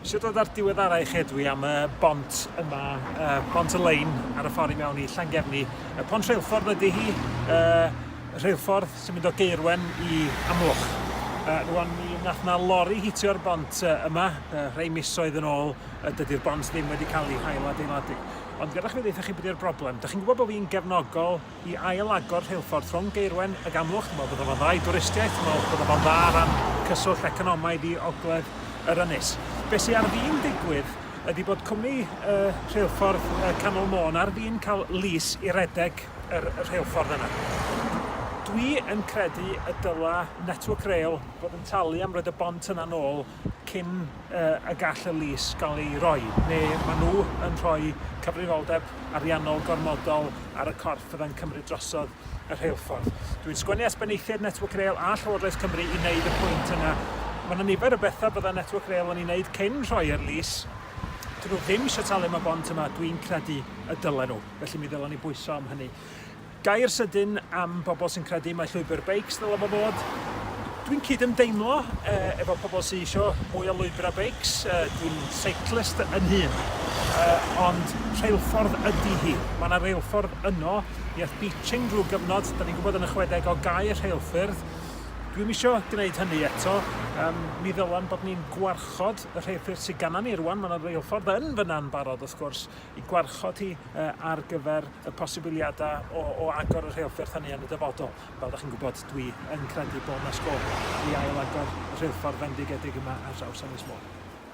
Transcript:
Sut oedd ar diweddarau chi dwi am y bont yma, uh, bont y lein ar y ffordd i mewn i Llangefni. Y pont rheilffordd ydy hi, uh, rheilffordd sy'n mynd o Geirwen i Amlwch. Uh, rwan mi nath na lori hitio'r bont uh, yma, uh, rhai misoedd yn ôl, uh, dydy'r bont ddim wedi cael ei hail adeiladu. Ond gyda chi ddeitha chi beth yw'r broblem. Da chi'n gwybod bod fi'n gefnogol i ail agor rheilffordd rhwng Gaerwen ag Amlwch, dwi'n meddwl bydde fo'n dda i dwristiaeth, dwi'n meddwl bydde fo'n dda o ran cyswllt economaidd i ogledd yr ynys. Be sy ar fin digwydd ydy bod cwmni y rheilffordd y Canol Môn ar fin cael lys i redeg yr rheilffordd yna. Dwi yn credu y dyla Network Rail fod yn talu am roed y bont yna nôl cyn y gall y lys gael ei roi, neu maen nhw yn rhoi cyfrifoldeb ariannol gormodol ar y corff fydda'n cymryd drosodd y rheilffordd. Dwi'n sgwennu at benaethiaid Network Rail a Llywodraeth Cymru i wneud y pwynt yna. Mae yna nifer o bethau bydda Network Rail yn ei wneud cyn rhoi'r lys. Dyn nhw ddim eisiau talu am y bont yma, dwi'n credu y dylen nhw, felly mi ddylwn ni bwyso am hynny. Gair sydyn am bobl sy'n credu mai llwybr beics ddyla fo fod. Dwi'n cyd-ymdeimlo efo pobl sy'n isio mwy o lwybrau beics, dwi'n cyclist yn hun, ond rheilffordd ydy hi. Mae yna reilffordd yno, mi aeth Beeching drwy gyfnod, da ni'n gwybod yn y chwedegau gau'r rheilffyrdd. Dwi'm isio gwneud hynny eto, mi ddylan bod ni'n gwarchod y rheilffyrdd sydd gana ni rwan, mae yna reilffordd yn fyna'n barod wrth gwrs, i gwarchod hi ar gyfer y posibiliadau o agor y rheilffordd hynny yn y dyfodol. Fel ydych chi'n gwybod, dwi yn credu bod yna sgôp i ail-agor y rheilffordd fendigedig yma ar draws Ynys Môn.